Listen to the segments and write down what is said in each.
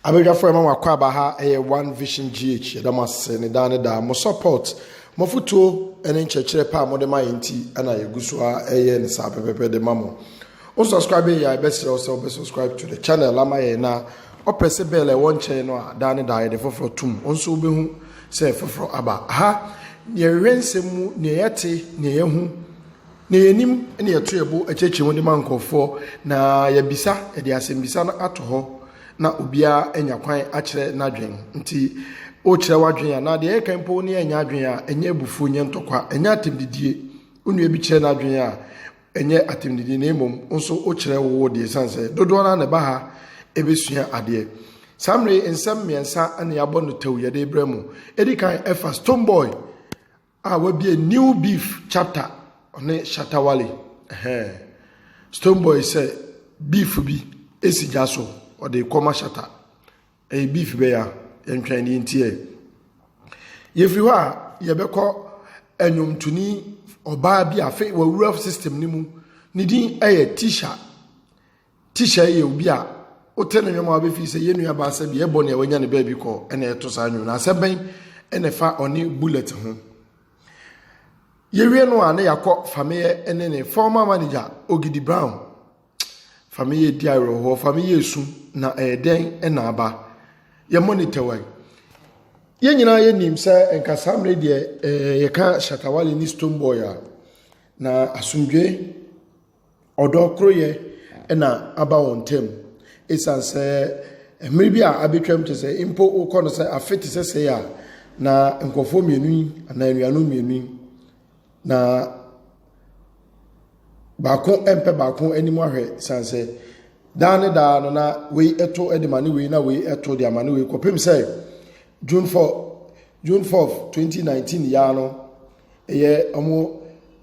Abadwafo a ɛma mo akwaaba ha yɛ One Vision GH. Yɛda mo ase ne daa ne daa. Mo support, mo afotuo ne nkyerɛkyerɛ pa a mode ma yɛn nti na yɛgu so ara ɛyɛ ne saa pɛpɛpɛ de ma mo. Wo subscribe yɛ a yɛbɛsrɛ wo sɛ wobɛ subscribe to the channel ama yɛn na ɔpɛsɛ bɛɛl ɛwɔ nkyɛn no a daa ne daa yɛde foforɔ tom. Wo nso wobɛhu sɛ foforɔ aba. Ha, neɛ yɛhwehwɛ nsɛm mu, neɛ yɛte, neɛ yɛahu, Nea yenim ne yɛto yɛn bo kyerɛkyerɛ mu de ma nkurɔfoɔ, na yɛbisa, yɛde asɛmmisa no ato hɔ na obiara anya kwan akyerɛ n'adwen. Nti, wokyerɛ w'adwen a, na deɛ ɛyɛ kan mpo wo ne yɛn nyɛ adwen a, ɛnyɛ abufuo, ɛnyɛ ntɔkwa, ɛnyɛ atɛmdidie. Wo nua bi kyerɛ n'adwen a, ɛnyɛ atɛmdidie, na mmom wo nso wokyerɛ wo wo deɛ, ɛsiane sɛ dodoɔ no ara na ɛba ha bɛsua adeɛ. Saa mmerɛ yi, nsɛm mmiɛnsa na yɛabɔ no tɛw yɛde rebrɛ mo. Ɛdi kan, ɛfa Stonebwoy A wabue new beef chapter ɔne shatta wale ɛhɛn stone boy sɛ beef bi esi gya so ɔde kɔ ma shatta ɛyɛ beef bɛya yɛntwɛn ne yɛntiɛ yɛfiri hɔ a yɛbɛkɔ ɛnwomtoni ɔbaa bi afe wawura system ne mu ne din ɛyɛ tisha Teacher yɛ obi a wote ne nwom a wobɛfii sɛ yɛn nua baa sɛ deɛ ɛbɔ nea wanya ne baabi kɔ ɛna ɛto saa nwom no asɛm bɛn ɛna ɛfa ɔne bullet ho yɛwie no a ne yɛakɔ fameyɛ ne ne former manager ogidi brown fameyɛ di awerɛhoɔ fameyɛ esu na ɛyɛ dɛn ɛna aba yɛ monitor wai yɛn nyinaa yɛnim sɛ nkasa mmerɛ deɛ yɛka shatawale ne stone boy a na asomdwe Ɔdɔ koroyɛ na aba wɔn ntam. Esiane sɛ mmere bi a abɛtwam kyerɛ sɛ mpo wokɔ no sɛ afe te sɛ sɛɛ a, na nkurɔfoɔ mmienu yi anaa anuanom mmienu yi na baako mpɛ baako anim ahwɛ sane sɛ daa ne daa no na wei ɛto de ma ne wei na wei ɛto de ama ne wei kɔpem sɛ June 4 June 4 2019 yaa no ɛyɛ wɔn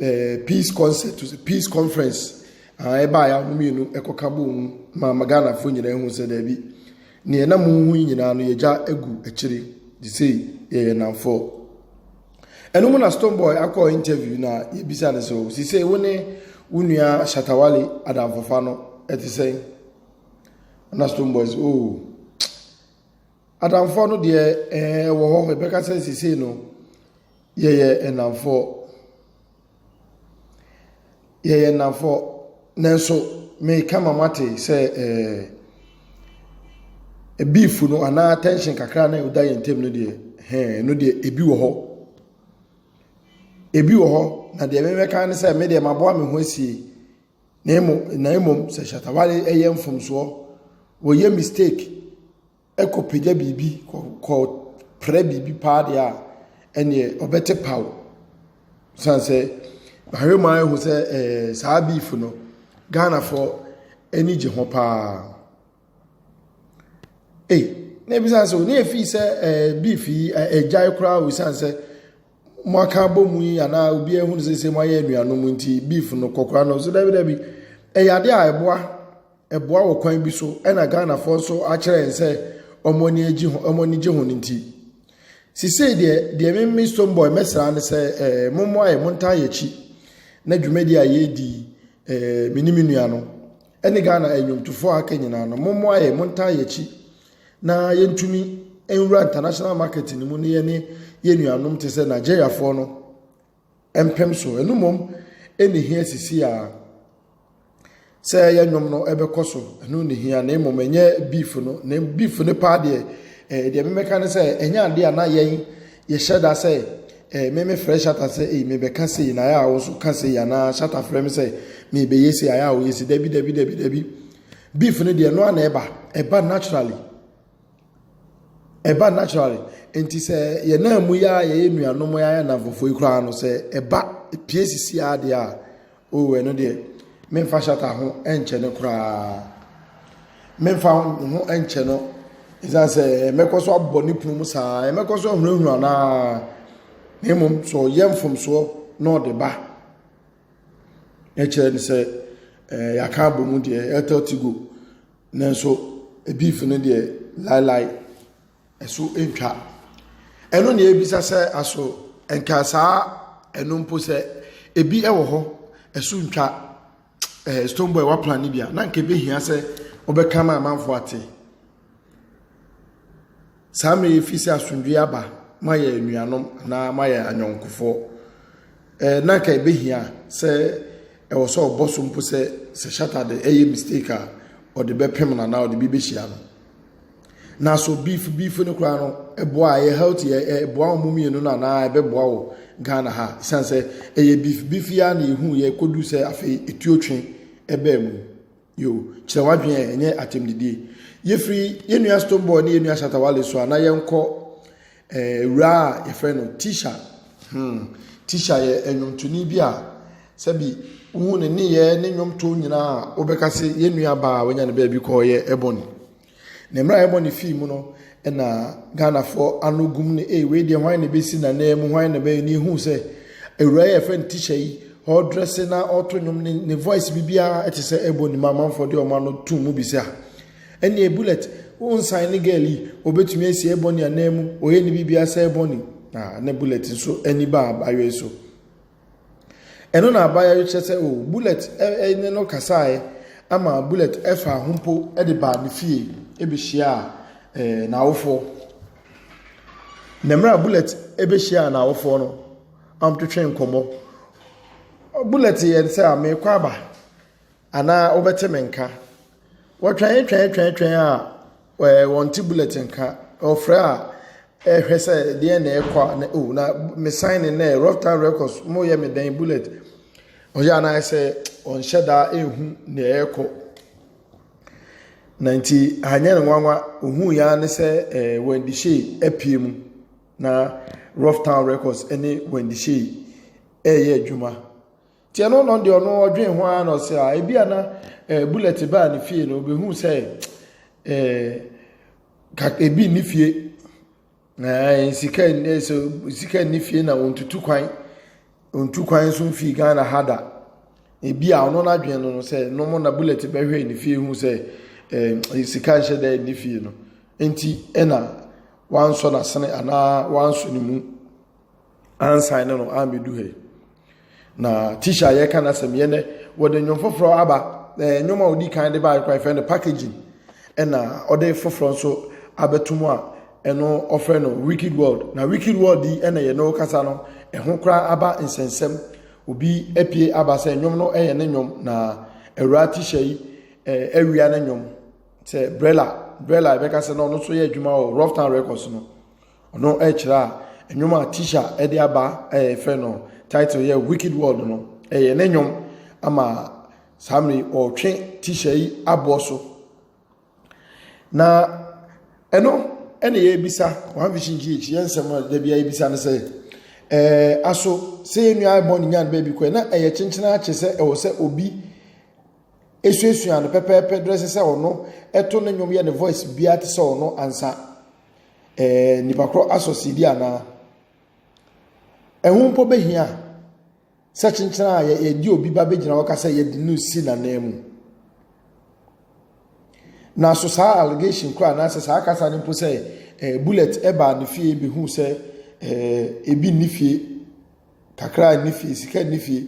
ɛɛ peace concert peace conference aa ɛbaa yɛ wɔn mmienu ɛkɔka bɔ mu ma ma ghanafoɔ nyinaa ehu sɛ daabi nea ɛnam mu hu yi nyinaa no yɛgya egu akyire de sei yɛyɛ nanfoɔ ɛno mu na stone boy akɔ interview na yɛbisa ne sɛ o si sɛ wo ne wo nua shatawale adamfofa no ɛte sɛn na stone boy sɛ o. Oh, Adamfoɔ no deɛ ɛɛ ɛwɔ hɔ ɛbɛka sɛ sesei no yɛyɛ nnamfoɔ yɛyɛ nnamfoɔ nanso meka ma moate sɛ ɛɛ beef no anaa tension kakra na ɛda yɛn ntam no deɛ hɛn no deɛ ebi wɔ hɔ ebi wɔ hɔ na deɛ mebɛka ne sɛ me deɛ maboa me ho asie. Na mmom na mmom sɛ Shatta Wale yɛ mfomsoɔ, wɔyɛ mistake kɔ pagya biribi kɔ kɔ prɛ biribi paa deɛ a, ɛneɛ ɔbɛte paw. San sɛ mahwɛ mu ayɛ ho sɛ ɛɛ saa beef no, Ghanafoɔ ani gye ho paa. Ei, na ebisa sɛ ne efi sɛ ɛɛ beef yi ɛgyae koraa o san sɛ. mo aka abɔ mu yi anaa obiara ehunu sɛ sɛ mo ayɛ anuanom nti beef no kɔkora no so dabi dabi ɛyɛ ade a ɛboa ɛboa wɔ kwan bi so ɛna ghanafoɔ nso akyerɛ yɛn sɛ wɔn ani agye ho wɔn ani gye ho no nti sisei deɛ deɛ memme stone boy mɛsra ne sɛ ɛɛ mo mo ayɛ mo ntaa yɛ akyi na dwumadi a yɛredi ɛɛ me ne me nua no. Ɛne Ghana nnwomtofoɔ a aka nyinaa no, mommoa yɛn, montaa yɛn akyi na yɛntumi nwura international market no mu ne yɛne yɛn nuanom te sɛ Nigeriafoɔ no mpem so. Ɛno mmom ɛne hia sisi a sɛ yɛn nnwom no ɛbɛkɔ so, ɛno ne hia na mmom ɛnyɛ beef no, na beef no paa deɛ ɛɛ deɛ memɛka ne sɛ ɛnyɛ adeɛ a na yɛn Yɛhyɛ da sɛ eh, me mefrɛ Shatta sɛ ei mebɛka sei na ayɛ a wo nso ka sei anaa Shatta frɛ me sɛ mebɛyɛ sei ayɛ a woyɛ sei dabi dabi dabi dabi beef no deɛ no a na ɛba ɛba naturally ɛba naturally nti sɛ yɛn nan mu yɛ a yɛyɛ nuanom yɛ ayɛ namfofoɔ yi koraa no sɛ ɛba pie sisi adeɛ a O ɛno deɛ, memfa hyata ho nkyɛ no koraa. Memfa ho nkyɛ no ɛsiane sɛ mɛkɔ so abɔ ne punu mu saa, mɛkɔ so ahunahuna naa. Na mmom sɛ ɔyɛ mfomsoɔ na ɔde ba, ɛkyerɛ no sɛ ɛɛ yɛaka abɔ mu deɛ ɛtɔ ti go. Nanso ebiif no deɛ laelae. ɛso ntwa. Ɛno na ebisa sɛ aso nka saa ɛno mpo sɛ ebi wɔ hɔ ɛso ntwa ɛɛ stone boy waplan ne bi a na nka ebi hia sɛ ɔbɛka ma amanfo ate. Saa mmiri efi sɛ asomdwe aba ma yɛ anuanom anaa ma yɛ anyɔnkofoɔ. Ɛɛ na nka ebi hia sɛ ɛwɔ sɛ ɔbɔ so mpo sɛ sɛ shata de ɛyɛ mistake a ɔde bɛpem na anaa ɔde bi bɛhyia no. na so beef beef no koraa no ɛboa a ɛyɛ healthy ɛ- ɛ- ɛboa wɔn mmienu no anaa ɛbɛboa wɔ ghana ha ɛsiane sɛ ɛyɛ beef beef yi ara na yɛhu yɛ kɔdu sɛ afei ɛtuo twe ɛbaa mu yo kyerɛ w'adwene ɛ, ɛnyɛ atɛmdidie yɛfiri yɛn nua stone boy ne yɛn nua shatawale so a na yɛnkɔ ɛɛ wura a yɛfrɛ no tisha hmm tisha yɛ ɛnwomtoni bi a sɛbi wohu ne nneyɛɛ ne nnwomtoɔ nyinaa a wobɛka se yɛn nua baa a wanya ne baabi kɔɔ yɛ ɛbɔne Ne mmerɛ a ɛbɔ ne fii mu no na Ghanafoɔ ano gum no ee wei deɛ hwan na ɛbɛsi n'anan mu hwan na ɛbɛyɛ ne ehuu sɛ awura yi a ɛfɛ no tikya yi ɔredrɛse na ɔreto nnwom ne ne voice biribiara ɛte sɛ ɛbɔ ne mu amanfoɔ de ɔma no tum mu bi sɛ a ɛnneɛ bullet wonsan ne girl yi ɔbɛtumi asi ɛbɔ ne anan mu ɔyɛ ne biribiara sɛ ɛbɔ ne na bullet nso ani baa abayɔe so Ɛno na abaeɛ no kyerɛ sɛ o Bullet ne no kasaeɛ ama Bullet faa ho mpo de baa ne fie bɛhyiaa n'awofoɔ. Na mmerɛ a Bullet bɛhyiaa n'awofoɔ no, wɔtwetwe nkɔmmɔ. Bullet yɛ sɛ a merekɔ aba anaa wobɛte me nka. Wɔtwɛn twɛn twɛn twɛn a Ɛɛ wɔnte bulletin nka. Wɔfrɛ a, ɛrehwɛ sɛ deɛn na ɛrekɔ a na o oh, na me sign in nɛ rough time records mo yɛ me dɛn bullet. Ɔyɛ anaayɛ sɛ ɔnhyɛ daa ehu na ɛrekɔ. Na nti anyɛ no nwanwa ohun ya ne sɛ ɛɛ eh, Wendy Shea apue mu na rough time records ne Wendy Shea ɛreyɛ adwuma. Tiɛ no no deɛ ɔno ɔdwen ho ara na ɔsɛ a ebi a na eh, bullet baa ne fie no obehu sɛ eh, ebi nni fie eh, sika eh, sika nni fie na wɔntutu kwan wɔntu kwan nso mfii ghana ha da ebi a ɔno n'adwen no no sɛ nom na bullet bɛhwɛ ne fie hu sɛ eh, sika nhyɛ dɛ nni fie no nti ɛna wansɔ n'asene anaa wansɔ ne mu. ansan ne no ammedu ha yi na tisha a yɛka n'asɛm yɛ nɛ wɔde nnwom foforɔ aba ɛɛ nnwom a ɔdi kan de ba akora fɛ no packaging ɛna ɔde foforɔ nso abɛto mu a ɛno ɔfrɛ no wicked world na wicked world yi ɛna yɛ no kasa no ɛho koraa aba nsɛnsɛm obi apue aba sɛ nnwom no ɛyɛ ne nnwom na awura tisha yi ɛɛ awia ne nnwom sɛ brella brella ɛbɛka sɛ na ɔno nso yɛ adwuma wɔ rough town records no Ɔno ɛkyerɛ a nnwom a Tisha ɛde aba ɛyɛ efɛ no title yɛ wicked world no ɛyɛ ne nnwom ama saa mmiri ɔretwe Tisha yi aboɔ so na ɛno ɛna yɛbisa wɔn vision gh yɛn nsɛm a dabi a yɛbisa no sɛ ɛɛ aso sɛ yɛn nua ɛbɔ ne nyan baabi kɔ na ɛyɛ kyenkyen akyɛ sɛ ɛwɔ sɛ obi esuasua no pɛpɛɛpɛ drɛ sɛ sɛ ɔno ɛto ne nnwom yɛ ne voice biara te sɛ ɔno ansa. Ɛɛ nnipa korɔ asɔsidi anaa? Ɛho mpo bɛhia sɛ kyenkyena a yɛde obi ba bɛgyina hɔ ka sɛ yɛde no si n'anan mu. Na so saa allegation kora anaasɛ saa kasa no mpo sɛ eh, bullet ɛbaa ne fie bɛhu sɛ eh, ebi nni fie Kakra a ɛnni fie, sika nni fie.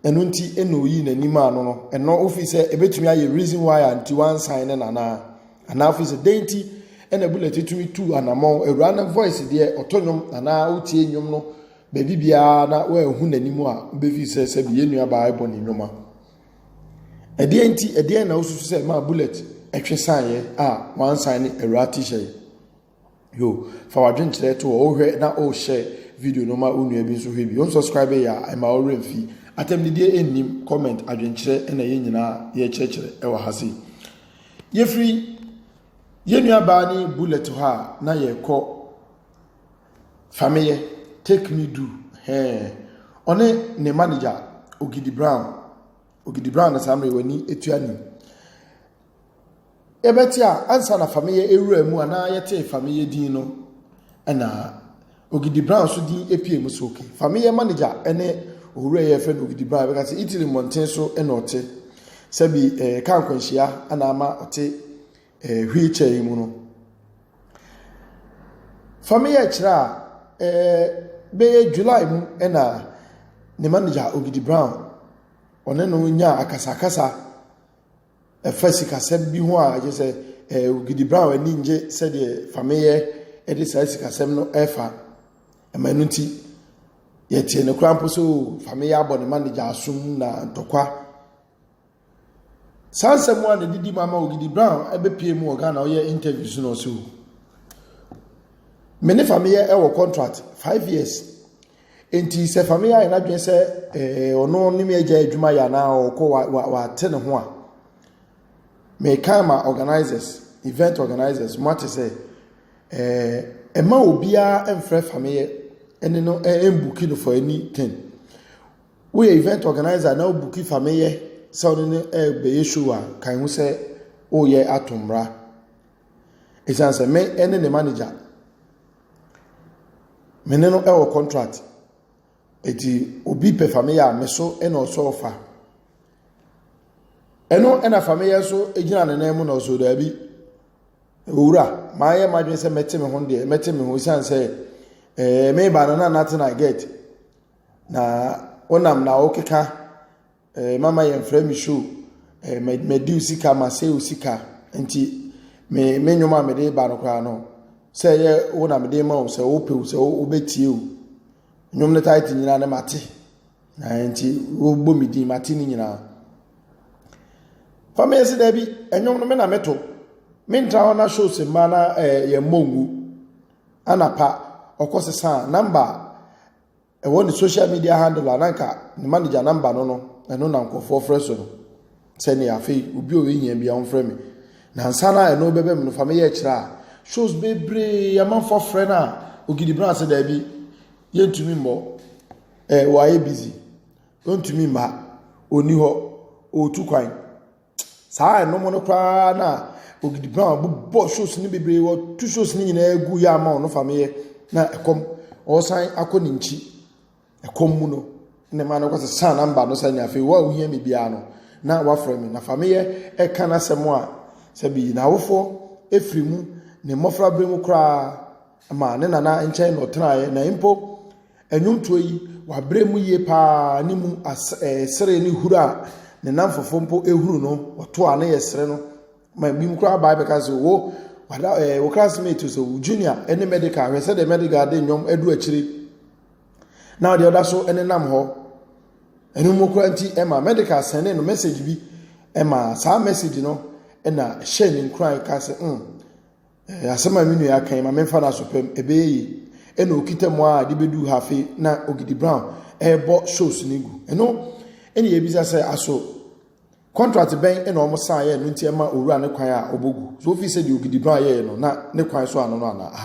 Ɛno nti na oyii n'ani maa no no. Ɛno ofii sɛ ebetumi ayɛ reason why a nti wansan ne nana. Anaa ofii sɛ dɛn nti ɛna bullet tumi tu anamɔn. Awura no voice deɛ ɔtɔ nnwom anaa wotie nnwom no baabi biara na wɔahu n'anim a wobɛfii sɛ sɛbi yɛn nuabaa ɛbɔ ne nnwom a. Ɛdeɛ nti ɛdeɛ na wosusu sɛ maa bullet ɛtwe saeɛ a wansan ne awura t-shirt. Yo, fa w'adwenkyerɛ to hɔ, wohwɛ na o share video no ma wo nua bi nso hwɛ bi. Wo subscribe yɛ a, ɛma wo werɛ mfi. Atɛmdidie nnim comment adwenkyerɛ ɛna yɛn nyinaa yɛkyerɛkyerɛ ɛwɔ ha sei. Yɛfiri yɛn nua baa ne bullet hɔ a na yɛkɔ fameyɛ take me do hɛɛ ɔne ne manager Ogidi Brown Ogidi Brown na saa mmerɛ w'ani etua nim. Yɛbɛte a, ansa na Fameyɛ ewuraa mu a na yɛtee Fameyɛ din no na Ogidi Brown nso din pue mu so. Fameyɛ manegya ne owura yi a yɛfrɛ no Ogidi Brown yɛbɛka sɛ Italy mmɔnten so na ɔte. Sɛbi eh, kaa nkwanhyia na ama ɔte eh, wheelchair yi mu no. Fameyɛ kyerɛ a eh, bɛyɛ July mu na ne manegya Ogidi Brown ɔne no nyaa akasakasa Ɛfa sikasɛm bi ho a ɛkyerɛ sɛ eh, Ogidi Brown ani ngye sɛdeɛ Fameyɛ de saa sikasɛm no ɛfa. Ɛma ɛno nti, yɛtee no koraa mpo sɛ o, oh, Fameyɛ abɔ ne ma ne gya asom na ntɔkwa. Saa nsɛm a na ɛdidi mu ama Ogidi Brown ɛbɛpie mu wɔ Ghana ɔyɛ interviews no ɔsɛ o. Me ne Fameyɛ ɛwɔ contract five years. Enti sɛ famia ayɛ n'adwene sɛ ɔno ne me agya adwuma yɛ anaa ɔkɔ wate ne ho a mekan ma organizers event organizers mo ate sɛ ɛma obiara mfrɛ famia ɛne no ɛmbuki no for anything woyɛ event organizer na wobuki famia sɛ ɔne no ɛbɛyɛ show a kan ho sɛ woyɛ ato mmra ɛsiane sɛ me ɛne ne manager Me ne no wɔ contract. Enti obi pɛ fa me yɛ a, me so na ɔsɔ fa. Ɛno na fa me yɛ nso gyina ne nan mu na ɔsɔ daabi. Owura, mayɛ m'adwene sɛ mɛte me ho deɛ, mɛte me ho ɛsiane sɛ ɛɛ meba no na noate no I get. Na wonam na wokeka. Eh, mama yɛmfrɛ me show. Eh, madi wo sika, masɛe wo sika. Nti, me me nnwom a mede ba no koraa no, sɛ ɛyɛ wo na mede ma wo, sɛ wopɛ o, sɛ wobɛtie o. Nnwom no taete nyinaa ne mate. Na nti, wobɔ me din, mate ne nyinaa. Fa meyɛ se daabi, nnwom no me na meto. Mentra hɔ na shows mma na eh, yɛmmɔ ngu. Anapa, ɔkɔ sesa namba Ɛwɔ ne social media handle a na anka ne manager number no no ɛno na nkurɔfoɔ frɛ so no sɛ ne afei obi ɔyɛ hia bi a ɔmfrɛ me na nsa no a ɛno bɛbɛ me no fa meyɛ kyerɛ a shows bebree amanfoɔ frɛ no a ogidi bra sɛ daabi yɛntumi mmɔ ɛɛ wɔayɛ busy ɔntumi mma ɔni hɔ ɔtu kwan saa a ɛnom no koraa na Ogidi Brown bobɔ shows no bebree wɔto shows no nyinaa gu yɛ ama ɔno fa meyɛ na ɛkɔm ɔresan akɔ ne nkyi ɛkɔm mu no ne ma no kɔsɛ saa namba no sɛ ne afei wo a wohia me biara no na wafrɛ me na fa meyɛ ɛka no asɛm a sɛ bi n'awofoɔ ɛfiri mu ne mmɔfra berɛ mu koraa Ma ne nana nkyɛn na ɔtenaeɛ, na mpo nnwomtoɔ yi, wabrɛ mu yie pa ara ne mu as ɛɛ sere ne huru a ne nnamfofoɔ mpo huru no, wɔto a ne yɛ sere no. Ma ebinom koraa bae bɛka sɛ, wo, wada ɛɛ wo classmate sɛ wo junior ne medical, hwɛ sɛdeɛ medical de nnwom adu akyire na deɛ ɔda so nenam hɔ. Ɛno mu koraa nti, ɛma medical sɛne no message bi, ɛma saa message no na hyɛ ne nkuran ka sɛ, mm, Eh, asɛm a me nua kan ma memfa no asopɛm, ɛbɛyɛ ye. Ɛna okita mu a de bɛduu ha afei na Ogidi Brown ɛrebɔ shows no gu. Ɛno, ɛne yɛbisa sɛ aso contract bɛn ɛna wɔn san yɛ no nti ɛma owura ne kwan a ɔbɔ gu. So wofi sɛ deɛ Ogidi Brown yɛɛ no na ne kwan so ano no anaa?